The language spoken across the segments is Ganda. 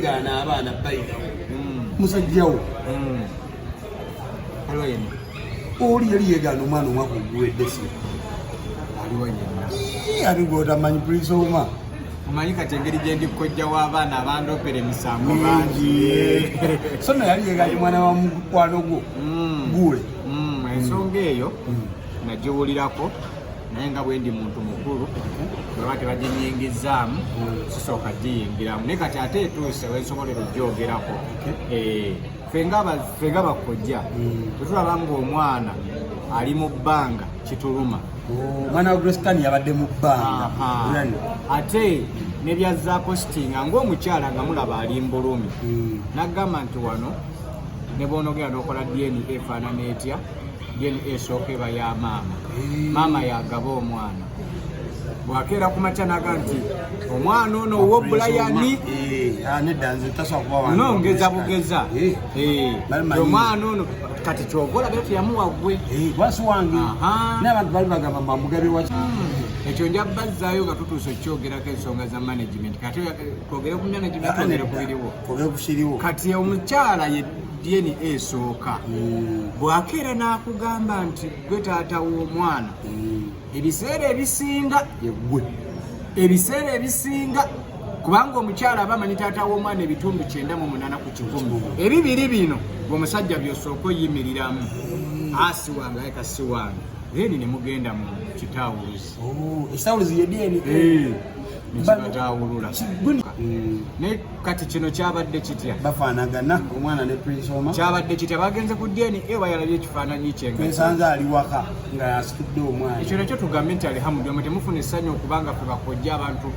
gaana abaana bayigawo hmm. musajjawo hmm. oli yali yegaana omwana omwaka oguwedde si abigotamanyi pulisa oma omanyi kati engeri gyendi kojja w'abaana abandopera emisango bangi so no yali yegaana omwana wa mukwano gwo hmm. guule ensonga eyo nagiwulirako naye nga bwendi muntu mukulu bweba tebaginyingizzaamu sisooka giyingiramu naye kati ate etuuse wensobolera ogyogerako eh, fenga bakojja bwetulaba hmm. ngaomwana ali mu bbanga kituluma oh, omwana wa grestan yabadde mu bbanga ate nebyazzaako sitinga ngaomukyala nga mulaba ali mbulumi hmm. nagamba nti wano ne bwonogera nokola dna efaanana etya DNA esooka eba ya maama maama yagaba omwana bwakeera ku makya naga nti omwana ono owo bulayani no ngeza bugeza omwana ono kati kyova olabira teyamuwa gwe wasi wange nabantu bali bagamba mamugabe wa hmm. ekyo nja bazzaayo nga tutuusa okukyogerako ensonga za management kati kwogere ku management ogere kubiriwo kati omukyala ye DNA esooka mm. bwakeera n'akugamba nti gwe taata w'omwana mm. ebiseera ebisinga yegwe ebiseera ebisinga kubanga omukyala aba amanyi taata w'omwana ebitundu kyenda mu munana ku kikumi ebibiri bino omusajja byosooka oyimiriramu mm. asi wange aye kasi wange then ne mugenda mu kitawuluzi nekibataawulula mm. naye kati kino kyabadde kitya bafaanagana omwana ne prinsoma kyabadde kitya bagenze ku dna e bayalabye ekifaananyi kyensanze ali waka nga yasikidde omwana ekyo nakyo tugambe nti alihamudulama temufuna essanyu okubanga fe bakojja abantu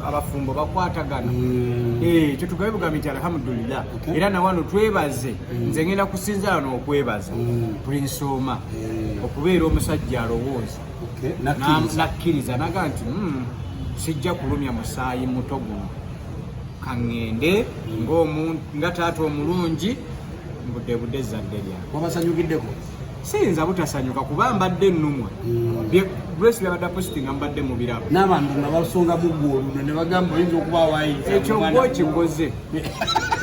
abafumbo bakwatagana mm. eh, ekyo tugabe bugambe nti alhamdulillah era nawano twebaze mm. nze ngenda kusinzala nokwebaza prinsoma eh. okubeera omusajja alowooza nakkiriza naga nti hmm, sijja kulumya musaayi muto guno kaŋŋende nga taata omulungi mbudde budde ezzadde lyange wabasanyukiddeko siyinza butasanyuka kuba mbadde ennumwa grace hmm. byabadde apositi nga mbadde mu birabo n'abantu nga basonga mugwa oluno ne bagamba oyinza okuba waayinza ekyo gwe okikoze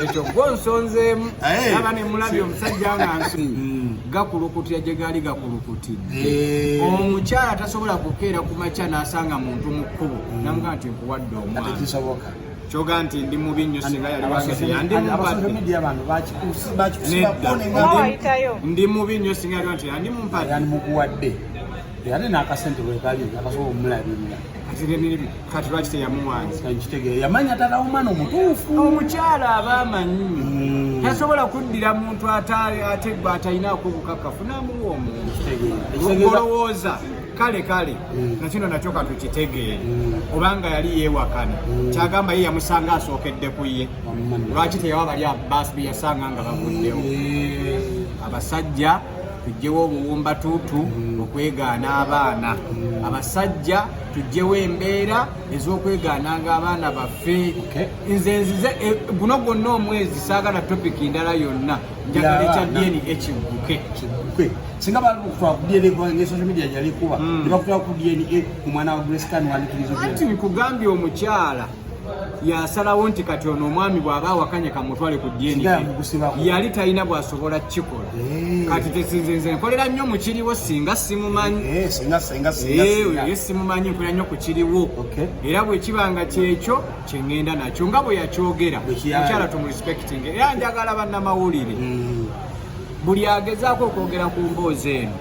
ekyo gwo nsonzeemu eh. aba ne mulabye omusajja nga nsi hmm. gakulukutira gye gaali gakulukutidde eh. omukyala tasobola kukeera ku makya n'asanga muntu mu kkubo hmm. namugaa nti nkuwadde omwana kyoga nti ndi mubi nnyo singa yali wangeyandimubadde mubi nnyo singa yali nti yandi mumpade yandi mukuwadde ate n'akasente bwekali akasobola omulabirira kati lwaki teyamuwanza nkitegeera yamanya tata omwana omutuufu omukyala aba amanyi hmm. tasobola kuddira muntu ataali ate gwe atalinaako obukakafu namuwa omuntu olowooza kale kale hmm. nakino nakyo katukitegeere hmm. obanga yali yewakana kyagamba ye yamusanga asookedde ku ye lwaki teyawa bali abasi beyasanga nga bavuddewo abasajja tujjewo obuwumbatuutu mm. okwegaana abaana mm. abasajja tujjewo embeera ez'okwegaananga abaana baffe nze nzize eh, guno gwonna omwezi saagala topiki ndala yonna njagala ekya dn ekigguke singa bakutwala ku dna kubanga ne social media yalikuba hmm. ne bakutwala ku dna omwana wa grace kan wandikiriza anti nkugambye omukyala yasalawo nti kati ono omwami bw'aba awakanye kamutwale ku DNA yali talina bw'asobola kukikola eh. kati tesinze nze nkolera nnyo mu kiriwo singa simumanyi eh, eh, simumanyi nkolera nnyo ku kiriwo era bwe kiba nga kyekyo kye ŋŋenda nakyo nga bwe yakyogera mukyala tumurespekting era njagala bannamawulire hmm. buli agezaako okwogera ku mboozi eno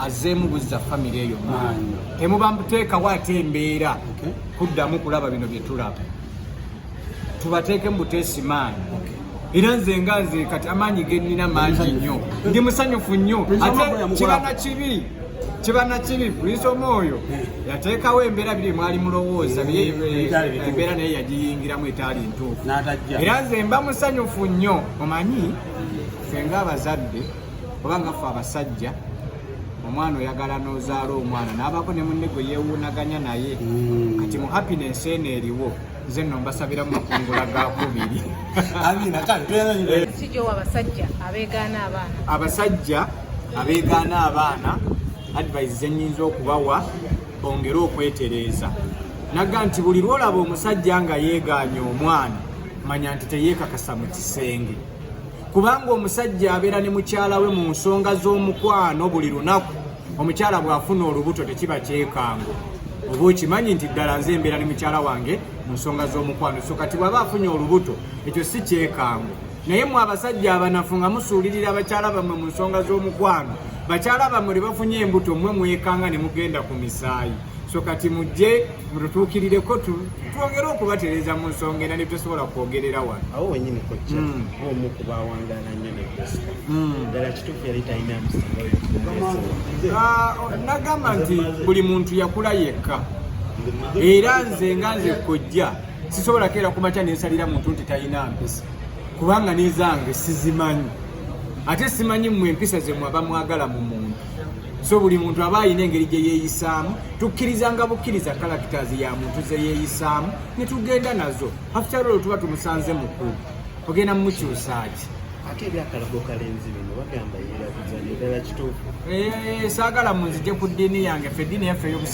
azzeemu buzza famire eyo maanyi temuba mbuteekawo ate embeera kuddamu kulaba bino bye tulaba tubateekemu buteesi maanyi era nze nga nze kati amaanyi gennina mangi nnyo ndi musanyufu nnyo ate kibana kibi kibana kibi puliisi omu oyo eh. yateekawo embeera biri mwali mulowooza eh, eh, embeera naye yagiyingiramu etaali ntuufu era nze mba musanyufu nnyo omanyi ffe nga abazadde oba nga ffe abasajja omwana oyagala nozaala omwana nabako ne munne gwe yewunaganya naye mm. kati mu happiness eno eriwo nze no mbasabira mu makungula ga kubiri abasajja abegaana abaana advise zenyinza okubawa bongere okwetereeza naga nti buli lwolaba omusajja nga yegaanya omwana manya nti teyekakasa mu kisenge kubanga omusajja abeera ne mukyala we mu nsonga z'omukwano buli lunaku omukyala bw'afuna olubuto tekiba kyekango oba okimanyi nti ddala nze embeera ne mukyala wange mu nsonga z'omukwano so kati bw'aba afunye olubuto ekyo si kyekango naye mwe abasajja abanafu nga musuulirira bakyala bammwe mu nsonga z'omukwano bakyala bammwe lwe bafunye embuto mmwe mwekanga ne mugenda ku misaayi so kati mujje mututuukirireko twongere okubatereza mu nsonga era netusobola kwogerera wano awo wenyini kojja hmm. omu ku bawangaala nnyo ne kristo hmm. ddala kituufu yali talina ah, oh, nagamba nti buli muntu yakula yekka era nze nga nze kojja sisobola keera kumakya nensalira muntu nti talina mpisa kubanga nezange sizimanyi ate simanyi mwe empisa zemwaba mwagala mu muntu so buli muntu aba alina engeri gye yeeyisaamu tukkirizanga bukkiriza characters ya muntu ze yeeyisaamu ne tugenda nazo after all tuba tumusanze mukulu ogenda mumukyusaaki ate ebyakalago kalenzi bino bagamba yeerabiza nedala kituufu eh, saagala munzije ku ddiini yange fe ddiini yaffe ey'obusi